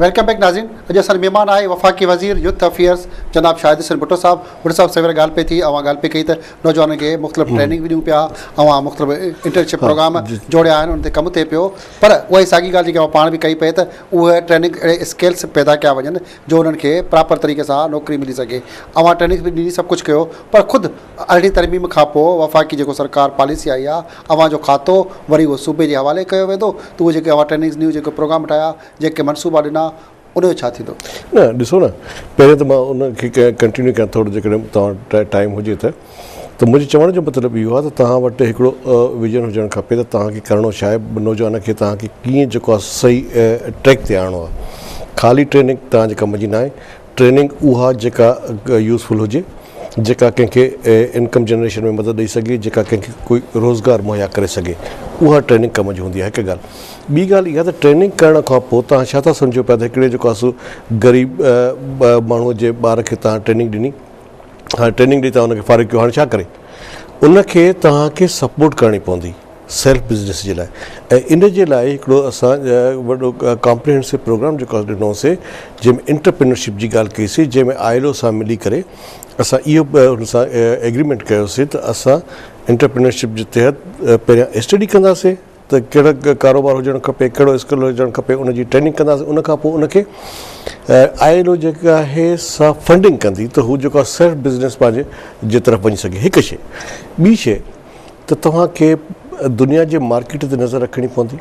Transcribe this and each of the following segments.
Welcome back ناظرين اڄ اسان مهمان آهي وفاقي وزير يوٿ افيئرس جناب شاهد حسين بھٽو صاحب بھٽو صاحب سوير ڳالھ پئي ٿي اوهان ڳالھ پئي ڪئي ته نوجوانن کي مختلف ٽريننگ به ڏيون پيا اوهان مختلف انٽرنشپ پروگرام جوڙيا آهن ان تي ڪم ٿئي پيو پر اها ئي ساڳي ڳالھ جيڪي اوهان پاڻ به ڪئي پئي ته اهي ٽريننگ اهڙي اسڪيلس پيدا ڪيا وڃن جو انهن کي پراپر طريقي سان نوڪري ملي سگهي اوهان ٽريننگ به ڏني سڀ ڪجھ ڪيو پر خود ارڙهين ترميم کانپوء وفاقي جيڪو سرڪار پاليسي آئي آ اوهان جو کاتو وري اهو صوبي جي حوالي ڪيو ويندو ته اهي جيڪي اوهان ٽريننگز نيو جيڪي پروگرام ٺاهيا جيڪي منصوبا ڏنا ان جو ڇا ٿيندو. نه ڏسو نه پهرين ته مان ان کي ڪنٽينيو ڪيان ٿورو جيڪڏهن توهان وٽ ٽائيم هجي ته ته منهنجي چوڻ جو مطلب اهو آ ته توهان وٽ هڪڙو ويزن هجڻ کپي ته توهان کي ڪرڻو ڇا آهي نوجوان کي توهان کي ڪيئن جيڪو آ صحيح ٽريڪ تي آڻڻو آ خالي ٽريننگ توهان جي ڪم جي ناهي ٽريننگ اها جيڪا يوزفل هجي، جيڪا ڪنهن کي انڪم جنريشن ۾ مدد ڏئي سگهي، جيڪا ڪنهن کي ڪوئي روزگار مهيا ڪري سگهي، اها ٽريننگ ڪم جي هوندي آهي هڪ ڳالهه. ٻي ڳالهه اها ته ٽريننگ ڪرڻ کان پوء توهان ڇا ٿا سمجهو پيا ته هڪڙي جيڪو آسو غريب ماڻهو جي ٻار کي توهان ٽريننگ ڏني، هاڻي ٽريننگ ڏئي توهان ان کي فارغ ڪيو هاڻي ڇا ڪري؟ ان کي توهان کي سپورٽ ڪرڻي پوندي. سيلف بزنس جي لاء ۽ ان جي لاء هڪڙو اسان وڏو ڪامپريهنسو پروگرام جيڪو اسان ڏنو سي جنهن ۾ انٽرپرينرشپ جي ڳالهه ڪئي سي جنهن ۾ آء ايل او سان ملي ڪري اسان اهو ان سان ايگريمينٽ ڪيو سي ته اسان انٽرپرينرشپ جي تحت پهريان اسٽڊي ڪنداسي ته ڪهڙو ڪاروبار هجڻ کپي ڪهڙو اسڪل هجڻ کپي ان جي ٽريننگ ڪنداسي ان کان پوء ان کي آء ايل او جيڪا آهي سا فنڊنگ ڪندي ته هو جيڪو آهي سيلف بزنس پنهنجي جي طرف وڃي سگهي هڪ شيء ٻي شيء ته توهان کي دنيا جي مارڪيٽ تي نظر رکڻي پوندي،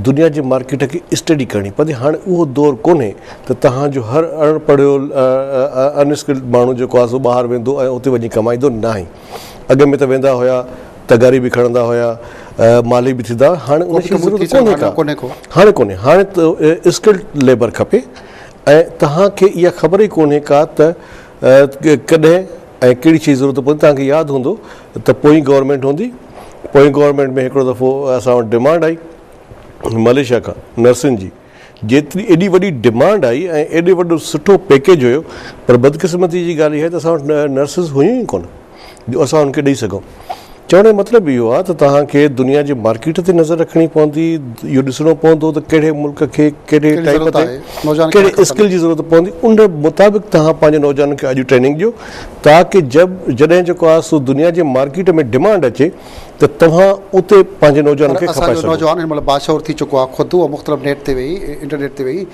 دنيا جي مارڪيٽ کي اسٽڊي ڪرڻي پوندي، هاڻي اهو دور ڪونهي ته توهان جو هر اڻ پڙهيو ان اسڪلڊ ماڻهو جيڪو آهي سو ٻاهر ويندو ۽ اتي وڃي ڪمائيندو، ناهي اڳ ۾ ته ويندا هيا، تغاري به کڻندا هيا، مالهي به ٿيندا هيا، هاڻي ان جي ضرورت ڪونهي ڪا، هاڻي ڪونهي، هاڻي اسڪلڊ ليبر کپي ۽ توهان کي اها خبر ئي ڪونهي ڪا ته. ڪڏهن ۽ ڪهڙي شيء جي ضرورت پوندي توهان کي ياد هوندو ته پوئين گورنمينٽ هوندي پوئين گورنمينٽ ۾ هڪڙو دفعو اسان وٽ ڊمانڊ آئي مليشيا کان نرسن جي جيتري ايڏي وڏي ڊمانڊ آئي ۽ ايڏو وڏو سٺو پيڪيج هيو پر بدقسمتي جي ڳالهه اها آهي ته اسان وٽ نرسز هيون ئي ڪونه جو اسان هن کي ڏئي سگهون. چوڻ جو مطلب اهو آهي ته توهان کي دنيا جي مارڪيٽ تي نظر رکڻي پوندي، اهو ڏسڻو پوندو ته ڪهڙي ملڪ کي ڪهڙي ٽائيپ تي ڪهڙي اسڪل جي ضرورت پوندي، ان مطابق توهان پنهنجي نوجوانن کي اڄ ٽريننگ ڏيو تاڪه جڏهن جيڪو آهي سو دنيا جي مارڪيٽ ۾ ڊمانڊ اچي ته توهان اتي پنهنجي نوجوانن کي کپائي سگهو. پر اسان جو نوجوان هن مهل باشعور ٿي چڪو آهي، خود هو مختلف نيٽ تي ويهي، انٽرنيٽ تي ويهي،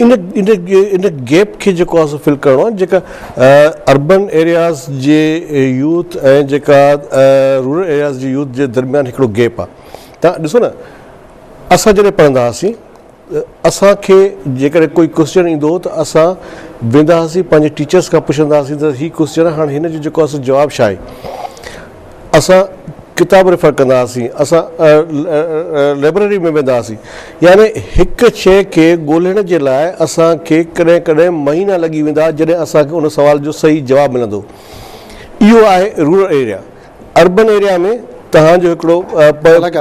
ان ان گيپ کي جيڪو آهي سو فل ڪرڻو آهي جيڪا اربن ايرياز جي يوٿ ۽ جيڪا رورل ايرياز جي يوٿ جي درميان هڪڙو گيپ آهي تان ڏسو نه اسان جڏهن پڙهندا هئاسين اسان کي جيڪڏهن ڪوئي ڪوشچن ايندو هو ته اسان ويندا هئاسين پنهنجي ٽيچرس کان پڇندا هئاسين ته هي ڪوشچن هاڻ هن جو جيڪو آهي سو جواب ڇا آهي اسان ڪتاب ريفر ڪندا هئاسين، اسان لئبرري ۾ ويندا هئاسين، يعني هڪ شيء کي ڳولهڻ جي لاء اسان کي ڪڏهن ڪڏهن مهينا لڳي ويندا ها جڏهن اسان کي ان سوال جو صحيح جواب ملندو. اهو آهي رورل ايريا. اربن ايريا ۾ توهان جو هڪڙو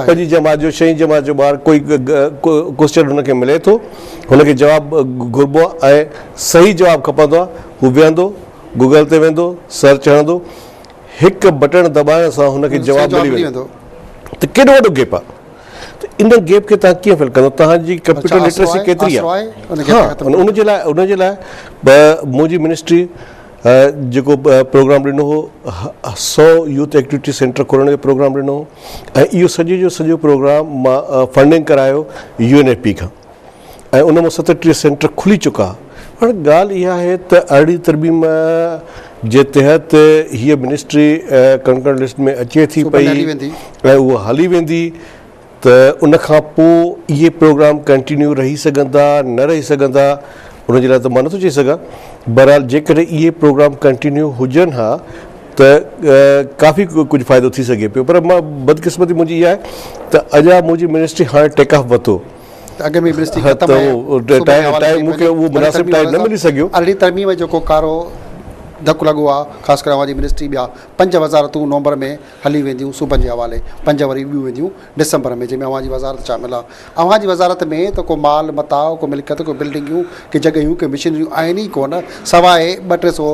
پنجين جماعت جو شئين جماعت جو ٻار ڪوئي ڪوئسچن هن کي ملي ٿو، هن کي جواب گهربو آهي ۽ صحيح جواب کپندو آهي، هو ويهندو، گوگل تي ويندو، سرچ هڻندو، هڪ بٽڻ دٻائڻ سان هن کي جواب ملي ويندو ته ڪيڏو وڏو گيپ آهي ته ان گيپ کي تان ڪيئن فل ڪندو تان جي ڪمپيوٽر لٽريسي ڪيتري آهي ان جي لاء ان جي لاء منهنجي منسٽري جيڪو پروگرام ڏنو هو سو يوٿ ايڪٽيوٽي سينٽر کولڻ جو پروگرام ڏنو هو ۽ اهو سڄي جو سڄو پروگرام مان فنڊنگ ڪرايو يو اين ايف پي کان ۽ ان مان ستٽيهه سينٽر کلي چڪا. هاڻي ڳالهه اها آهي ته ارڙهين ترميم جي تحت هيء منسٽري ڪنڪرنٽ لسٽ ۾ اچي ٿي پئي ۽ اها هلي ويندي ته ان کان پوء اهي پروگرام ڪنٽينيو رهي سگهندا نه رهي سگهندا ان جي لاء ته مان نٿو چئي سگهان بهرحال جيڪڏهن اهي پروگرام ڪنٽينيو هجن ها ته ڪافي ڪجهه فائدو ٿي سگهي پيو پر بدقسمتي منهنجي اها آهي ته اڄ منهنجي منسٽري هاڻي ٽيڪ آف وتو ٽائيم مون کي اهو مناسب ٽائيم نه ملي سگهيو. ارڙهين ترميم ۾ جيڪو ڪارو ڌڪ لڳو آهي، خاص ڪري اوهان جي منسٽري ٻيا پنج وزارتون نومبر ۾ هلي وينديون صوبن جي حوالي، پنج وري ٻيون وينديون ڊسمبر ۾، جنهن ۾ اوهان جي وزارت شامل آهي. اوهان جي وزارت ۾ ته ڪو مال متاع، ڪو ملڪيت، ڪو بلڊنگيون، ڪي جڳهيون، ڪي مشينريون آهن ئي ڪونه، سواء ٻه ٽي سو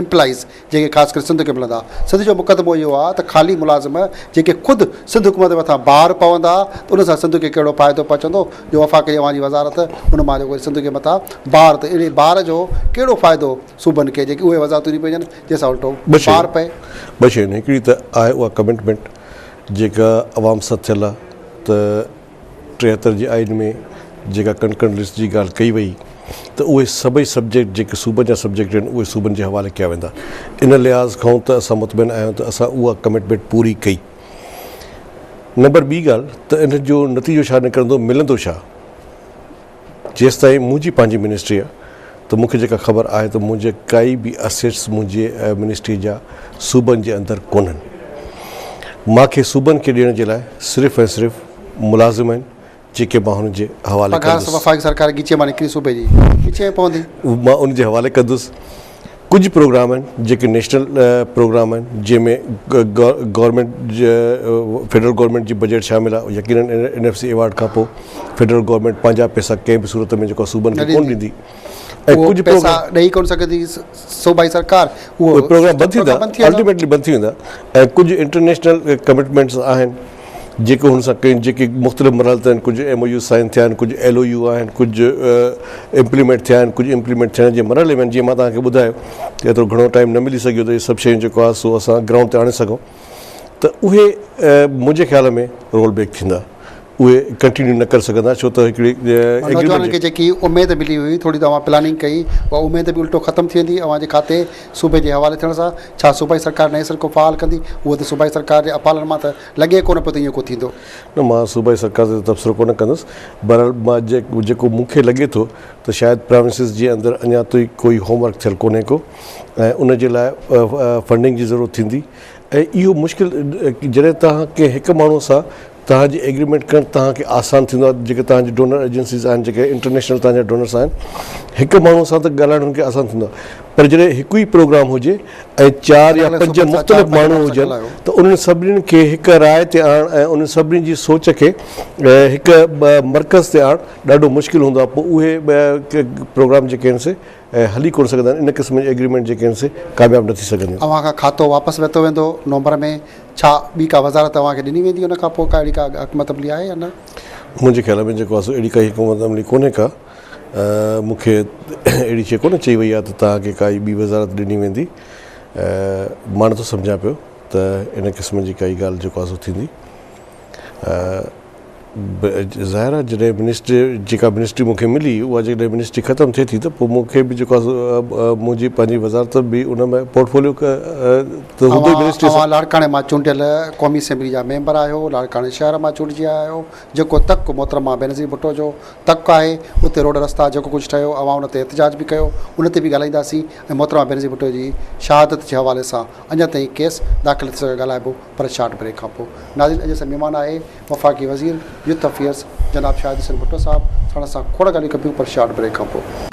امپلائيز جنهن کي خاص ڪري سنڌ کي ملندا. سنڌ جو مقدمو اهو آهي ته خالي ملازم جن کي خود سنڌ حڪومت مٿان بار پوندا ته ان سان سنڌ کي ڪهڙو فائدو پهچندو جو وفاقي اوهان جي وزارت ان مان جو وري سنڌ جي مٿان بار ته اهڙي بار جو ڪهڙو فائدو صوبن کي جيڪي اهي وزارتون ڏينديون پئجن جنهن سان الٽو بار پئي. ٻه شيون آهن هڪڙي ته آهي اها ڪمٽمينٽ جيڪا عوام سٿيل آهي ته. ٽيهتر جي آئين ۾ جيڪا ڪنڪرنٽ لسٽ جي ڳالهه ڪئي وئي ته اهي سڀئي سبجيڪٽ جيڪي صوبن جا سبجيڪٽ آهن اهي صوبن جي حوالي ڪيا ويندا ان لحاظ کانئون ته اسان مطمئن آهيون ته اسان اها ڪمٽمينٽ پوري ڪئي نمبر ٻي ڳالهه ته ان جو نتيجو ڇا نڪرندو ملندو ڇا؟ جيستائين منهنجي پنهنجي منسٽري آهي ته مون کي جيڪا خبر آهي ته منهنجي ڪائي به اسيٽس منهنجي منسٽري جا صوبن جي اندر ڪونهن. مان کي صوبن کي ڏيڻ جي لاء صرف ۽ صرف ملازم آهن جيڪي مان هن جي حوالي ڪندس. پگهار وفاقي سرڪار جي ڳچيء مان نڪري صوبي جي ڳچيء ۾ پوندي. مان ان جي حوالي ڪندس. ڪجهه پروگرام آهن جيڪي نيشنل پروگرام آهن جنهن ۾ گورنمينٽ فيڊرل گورنمينٽ جي بجيٽ شامل آهي يقينن اين ايف سي ايوارڊ کان پوء فيڊرل گورنمينٽ پنهنجا پئسا ڪنهن به صورت ۾ جيڪو صوبن کي ڪون ڏيندي اهي پئسا ڏئي ڪون سگهندي صوبائي سرڪار اهي پروگرام بند ٿي ويندا الٽيميٽلي بند ٿي ويندا ۽ ڪجهه انٽرنيشنل ڪمٽمينٽس آهن جيڪي هن سان ڪيون جيڪي مختلف مرحلن تي آهن ڪجهه ايم او يوز سائن ٿيا آهن ڪجهه ايل او يو آهن ڪجهه امپليمينٽ ٿيا آهن ڪجهه امپليمينٽ ٿيڻ جي مرحلي ۾ آهن جيئن مان توهان کي ٻڌايو ته ايترو گهڻو ٽائيم نه ملي سگهيو ته اهي سڀ شيون جيڪو آهي سو اسان گرائونڊ تي آڻي سگهون ته اهي منهنجي خيال ۾ رول بيڪ ٿيندا اهي ڪنٽينيو نه ڪري سگهندا ڇو ته هڪڙي ايگريمينٽ جيڪي اميد ملي هئي ٿوري توهان پلاننگ ڪئي اها اميد به الٽو ختم ٿي ويندي اوهان جي کاتي صوبي جي حوالي ٿيڻ سان ڇا صوبائي سرڪار نئين سر ڪو فعال ڪندي؟ هونئن ته صوبائي سرڪار جي اپالن مان ته لڳي ڪونه پيو ته ايئن ڪو ٿيندو. نه مان صوبائي سرڪار تي تبصرو ڪونه ڪندس. بهرحال مان جيڪو مون کي لڳي ٿو ته شايد پراونسز جي اندر اڃا توئي ڪوئي هوم ورڪ ٿيل ڪونهي ڪو ۽ ان جي لاء فنڊنگ جي ضرورت ٿيندي ۽ اهو مشڪل جڏهن توهان ڪنهن هڪ ماڻهو سان توهان جي ايگريمينٽ ڪرڻ توهان کي آسان ٿيندو آهي جيڪي توهان جي ڊونر ايجنسيز آهن جيڪي انٽرنيشنل توهان جا ڊونرس آهن هڪ ماڻهو سان ته ڳالهائڻ هن کي آسان ٿيندو آهي پر جڏهن هڪ ئي پروگرام هجي ۽ چار يا پنج مختلف ماڻهو هجن ته انهن سڀني کي هڪ راء تي آڻڻ ۽ انهن سڀني جي سوچ کي هڪ مرڪز تي آڻڻ ڏاڍو مشڪل هوندو آهي پوء اهي پروگرام جيڪي آهن سي ۽ هلي ڪونه سگهندا آهن ان قسم جي ايگريمينٽ جيڪي آهن سي ڪامياب نه ٿي سگهنديون. اوهان کان کاتو واپس ورتو ويندو نومبر ۾ ڇا ٻي ڪا وزارت اوهان کي ڏني ويندي ان کان پوء ڪا اهڙي ڪا حڪمت عملي آهي يا نه؟ منهنجي خيال ۾ جيڪو آهي سو اهڙي ڪا حڪمت عملي ڪونهي ڪا مون کي اهڙي شيء ڪونه چئي وئي آهي ته توهان کي ڪائي ٻي وزارت ڏني ويندي مان نٿو سمجهان پيو ته ان قسم جي ڪائي ڳالهه جيڪو آهي سو ٿيندي. ظاهر آهي جڏهن منسٽري جيڪا منسٽري مون کي ملي اها جيڪڏهن منسٽري ختم ٿئي ٿي ته پوء مون کي به جيڪو آهي سو منهنجي پنهنجي وزارت به ان ۾ پورٽفوليو ته هوندو ئي منسٽري سان. اوهان لاڙڪاڻي مان چونڊيل قومي اسيمبلي جا ميمبر آهيو، لاڙڪاڻي شهر مان چونڊجي آيا آهيو، جيڪو تڪ محترمه بينظير ڀٽو جو تڪ آهي، اتي روڊ رستا جيڪو ڪجهه ٺهيو اوهان ان تي احتجاج به ڪيو ان تي به ڳالهائينداسين ۽ محترمه بينظير ڀٽو جي شهادت جي حوالي سان اڃا تائين ڪيس داخل ٿي سگهيو ڳالهائبو پر شارٽ بريڪ کانپوء ناظرين اڄ اسان جي مھمان آھي وفاقي وزير يوٿ افيئرز جناب شاھد حسين ڀٽو صاحب ساڻس اسان کوڙ ڳالھيون ڪبيون پر شارٽ بريڪ کانپوء.